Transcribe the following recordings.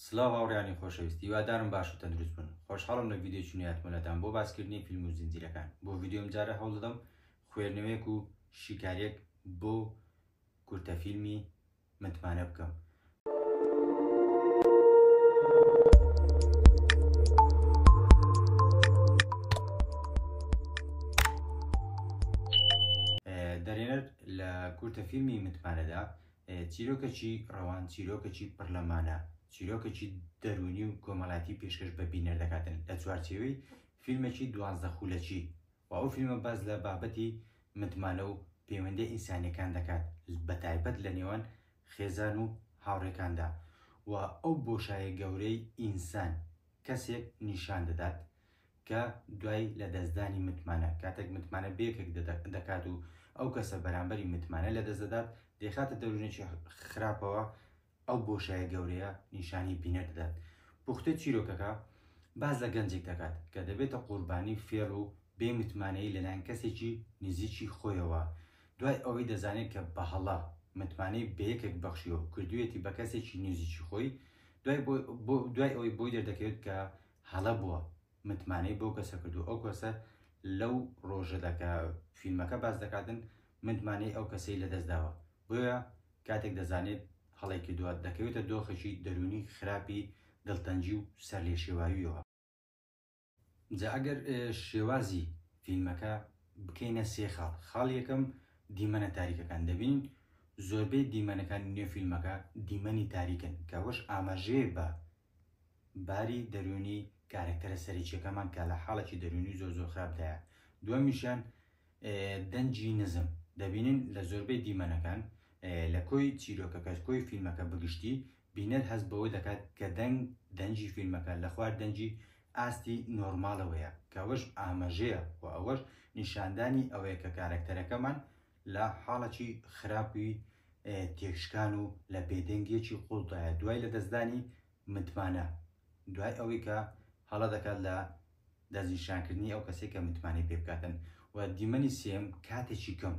سلاو هاوڕێیانی خۆشەویست هیوادارم باش و تەندروست بن خۆشحاڵم لە ڤیدیۆکی نوێهاتمەلاتان بۆ باسکردنی فیلم و زنجیرەکان بۆ ڤیدیۆ ئەم جارە هەوڵدەدەم خوێرنەوەیەک و شیکاریەک بۆ کورتە فیلمی متمانە بکەم دەرێنەر لە کورتە فیلمی متمانەدا چیرۆکەکی ڕەوان چیرۆکەکی پڕ لە مانا، چیرۆکەکی دەروونی و کۆمەڵایەتی پێشکەش بە بینەر دەکات لە چوارچێوەی فیلمێکی دوانزدە خولەکی و ئەو فیلمە باس لە بابەتی متمانە و پەیوەندییە ئینسانییەکان دەکات بە تایبەت لە نێوان خێزان و هاوڕێکاندا و ئەو بۆشایە گەورەی ئینسان کەسێک نیشان دەدات کە دوای لەدەستدانی متمانە، کاتێک متمانە بەیەکێک دەکات و ئەو کەسە بەرامبەری متمانە لەدەست دەدات، دەیخاتە دەورونێکی خراپەوە، ئەو بۆشایە گەورەیە نیشانی بینەر دەدات. پوختەی چیرۆکەکە باس لە گەنجێک دەکات کە دەبێتە قوربانی فێڵ و بێ متمانەیی لەلایەن کەسێکی نزیکی خۆیەوە، دوای ئەوەی دەزانێت کە بە هەڵە متمانەی بەیەکێک بەخشیوە و کردویەتی بە کەسێکی نزیکی خۆی، دوای ئەوەی بۆی دەردەکەوێت کە هەڵە بووە متمانەی بەو کەسە کردووە ئەو کەسە لەو ڕۆژەدا کە فیلمەکە باس دەکاتن متمانەی ئەو کەسەی لەدەست داوە بۆیە کاتێک دەزانێت هەڵەی کردووە دەکەوێتە دۆخێکی دەروونی خراپی دڵتەنگی و سەرلێشێواوییەوە. جا ئەگەر شێوازی فیلمەکە بکەینە سێ خاڵ، خاڵی یەکەم دیمەنە تاریکەکان دەبینین زۆربەی دیمەنەکانی نێو فیلمەکە دیمەنی تاریکن کە ئەوەش ئاماژەیە بە باری دەروونی کارەکتەرە سەرەکیەکەمان کە لە حاڵێکی دەروونی زۆر زۆر خراپدایە دووەمیشیان دەنجی نزم دەبینن لە زۆربەی دیمەنەکان لە کۆی چیرۆکەکەش کۆی فیلمەکە بگشتی بینەر هەست بەوە دەکات کە دەنگ دەنجی فیلمەکە لە خوار دەنجی ئاستی نۆرمالەوەیە کەوەش ئامەژەیە و ئەوەش نیشاندانی ئەوەیە کە کارەکتەرەکەمان لە حاڵەکی خراپی تێکشکان و لە بێدەنگیەکی قوڵدایە دوای لەدەستدانی متمانە، دوای ئەوەی کە هەڵە دەکات لە دەستنیشانکردنی ئەو کەسەی کە متمانەی پێ بکاتن و دیمەنی سێیەم کاتێکی کەم،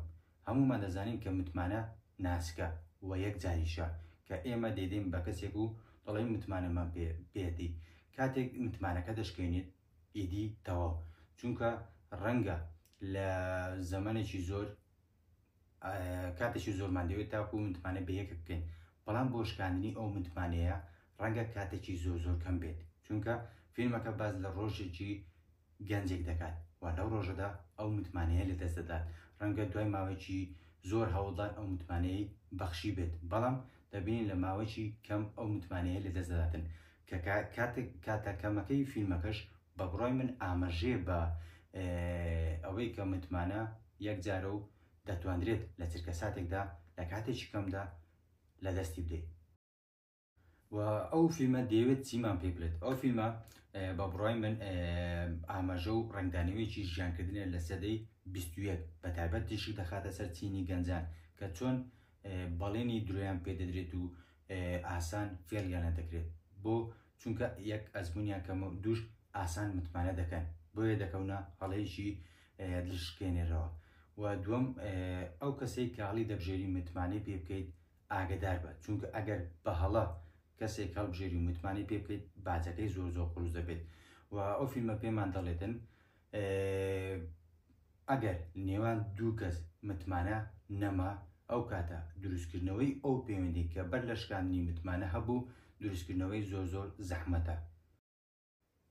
هەموومان دەزانین کە متمانە ناسکە و یەک جاریشە کە ئێمە دەیدەین بە کەسێک و دەڵێین متمانەمان پێ بێتی کاتێک متمانەکە دەشکێنیت، ئیدی تەواو چونکە ڕەنگە لە زەمەێکی زۆر کاتێکی زۆرمان دەوێت تاکو متمانە بە یەکە بکەین بەڵام بۆ شکاندنی ئەو متمانەیە ڕەنگە کاتێکی زۆر زۆر کەم بێت چونکە فیلمەکە باز لە ڕۆژێکی گەنجێک دەکات و لەو ڕۆژەدا ئەو متمانەیە لە دەست دەدات ڕەنگە دوای ماوەیەکی زۆر هەوڵدان ئەو متمانەی بەخشی بێت بەڵام دەبین لە ماوەیەکی کەم ئەو متمانەیە لە دەست دەداتن کە کاتێک کاتە کەمەکەی فیلمەکەش بە بڕای من ئامەژێ بە ئەوەی کە متمانە یەک جارە و دەتواندرێت لە چرکە ساتێکدا لە کاتێکی کەمدا لە دەستی بدەیت و ئەو فیلمە دەیەوێت چیمان پێ بلێت ئەو فیلمە بە بڕای من ئاماژە و ڕنگدانەوەیکی ژیانکردنە لە سەدەی 21 بە تایبەت تیشی دەخاتە سەر چینی گەنجان کە چۆن بەڵێنی درۆیان پێدەدرێت و ئاسان فێڵیانە دەکرێت بۆ چونکە یەک ئەزمونیان کەم و دووش ئاسان متمانە دەکەن بۆیە دەکەونە هەڵەیەکی دلشکێنێرەوە و دووەم ئەو کەسەی کە هەڵی دەبژێری متمانەی پێ بکەیت ئاگدار بە چونکە ئەگەر بە هەڵە کەسێک هەڵبژێری و متمانەی پێ بکەیت باجەکەی زۆر زۆر قڕوز دەبێت و ئەو فیلمە پێمان دەڵێتن ئەگەر نێوان دوو کەس متمانە نەما، ئەو کاتە دروستکردنەوەی ئەو پەیوەندییە کە بەر لە شکاندنی متمانە هەبوو، دروستکردنەوەی زۆر زۆر زەحمەتە.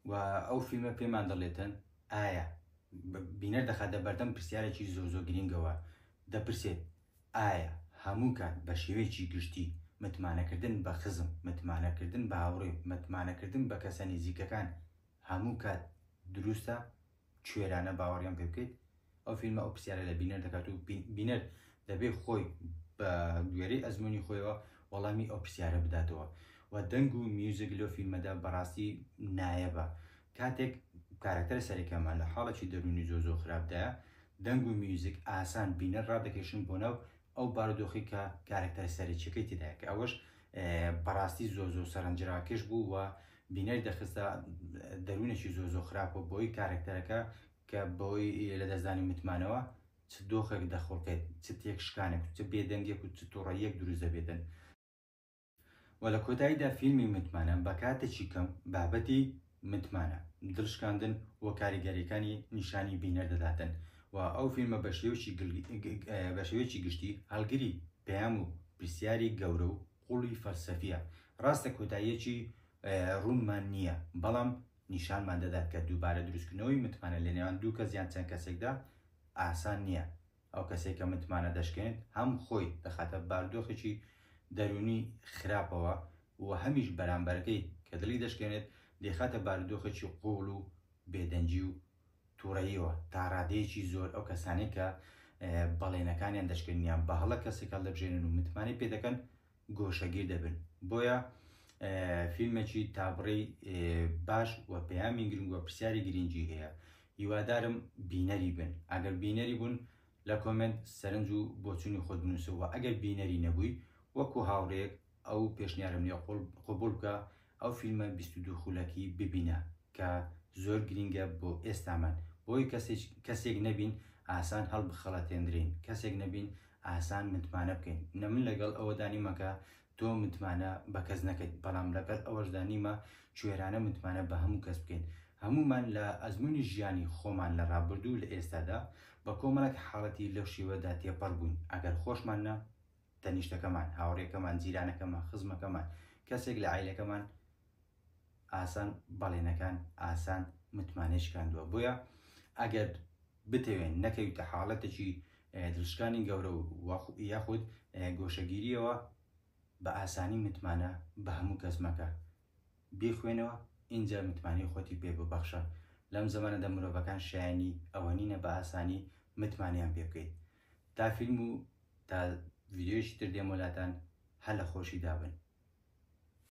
و ئەو فیلمە پێمان دەڵێتن، ئایا، بینەر دەخاتە بەردەم پرسیارێکی زۆر زۆر گرینگەوە، دەپرسێت، ئایا هەموو کات بە شێوەیەکی گشتی متمانەکردن بە خزم، متمانەکردن بە هاوڕێ، متمانەکردن بە کەسە نیزیکەکان هەموو کات دروستە؟ کوێرانە باوەڕیان پێ بکەیت ئەو فیلمە ئەو پرسیارە لە بینەر دەکات و بینەر دەبێ خۆی بە گوێرەی ئەزمموی خۆیەوە وەڵامی ئەو پرسیارە بداتەوە و دەنگ و میوزیک لۆ فیلمەدا بەڕاستی نایەبە کاتێک کارەکتەرە سەرەکەمان لە حاڵێکی دەرونی زۆ زۆ خراپدایە دەنگ و میوزیک ئاسان بینەر ڕادەکەشن بۆ ناو ئەو بارودۆخی کە کارەکتەر سەرەکیەکەی تێدایە کە ئەوەش بەڕاستی زۆ زۆ سەرنجراکێش بوو و بینەر دەخستە دەروونێکی زۆر زۆر خراپ و بۆی کارەکتەرەکە کە بەوەی لەدەستدانی متمانەوە چ دۆخێک دەخوڵقێت چ تێکشکانێک و چ بێدەنگێک و چ توڕەییەک دروست دەبێتن و لە کۆتاییدا فیلمی متمانە بە کاتێکی کەم بابەتی متمانە دڵشکاندن و کاریگەریەکانی نیشانی بینەر دەداتن و ئەو فیلمە بە شێوەیەکی گل- گل- گل- بە شێوەیەکی گشتی هەڵگری پەیام و پرسیاری گەورە و قوڵی فەلسەفییە. ڕاستە کۆتاییەکی ڕوونمان نییە، بەڵام نیشانمان دەدات کە دووبارە دروستکردنەوەی متمانە لە نێوان دوو کەس یان چەند کەسێکدا ئاسان نییە. ئەو کەسەی کە متمانە دەشکێنێت، هەم خۆی دەخاتە باردۆخێکی دەروونی خراپەوە و هەمیش بەرامبەرەکەی کە دڵی دەشکێنێت، دەیخاتە باردۆخێکی قووڵ و بێدەنگی و توڕەییەوە تاڕادەیەکی زۆر ئەو کەسانەی کە بەڵێنەکانیان دەشکێنیان بە هەڵە کەسێک هەڵدەبژێنن و متمانەی پێ دەکەن گۆشەگیر دەبن بۆیە فیلمێکی تابڕی باش و پەیامی گرنگ و پرسیاری گرنگی هەیە هیوادارم بینەری بن ئەگەر بینەری بوون لە کۆمنت سەرنج و بۆچوونی خۆت بنووسەوە ئەگەر بینەری نەبووی وەکو هاوڕێک ئەو پێشنیارەم لێ قبوڵ بکە ئەو فیلمە بیست و دوو خولەکی ببینە کە زۆر گرینگە بۆ ئێستامان بۆی کەسێک نەبین ئاسان هەڵبخەڵەتێندرێین کەسێک نەبین ئاسان متمانە بکەین نە من لەگەڵ ئەوەدا نیمە کە تۆ متمانە بە کەس نەکەیت بەڵام لەگەڵ ئەوەشدا نیمە کوێرانە متمانە بە هەموو کەس بکەین هەمومان لە ئەزمونی ژیانی خۆمان لە ڕابردوو لە ئێستادا بە کۆمەڵێک حاڵەتی لەو شێوەدا تێپەڕ بووین ئەگەر خۆشمان نە تەنیشتەکەمان، هاوڕێکەمان، جیرانەکەمان، خزمەکەمان، کەسێک لە عایلەکەمان ئاسان بەڵێنەکان ئاسان متمانەی شکاندووە بۆیە ئەگەر بتەوێن نەکەویتە حاڵەتێکی دروستکانی گەورە و یاخود گۆشەگیریەوە بە ئاسانی متمانە بە هەموو کەس مەکە بیخوێنەوە اینجا متمانی خۆتی پێ ببەخشە لەم زمانەدا مرۆڤەکان شایانی ئەوە نینە بە ئاسانی متمانیان پێ بکەیت تا فیلم و تا ڤیدیۆیەکی تر دێمۆ لاتان هەر لە خۆشیدا بن.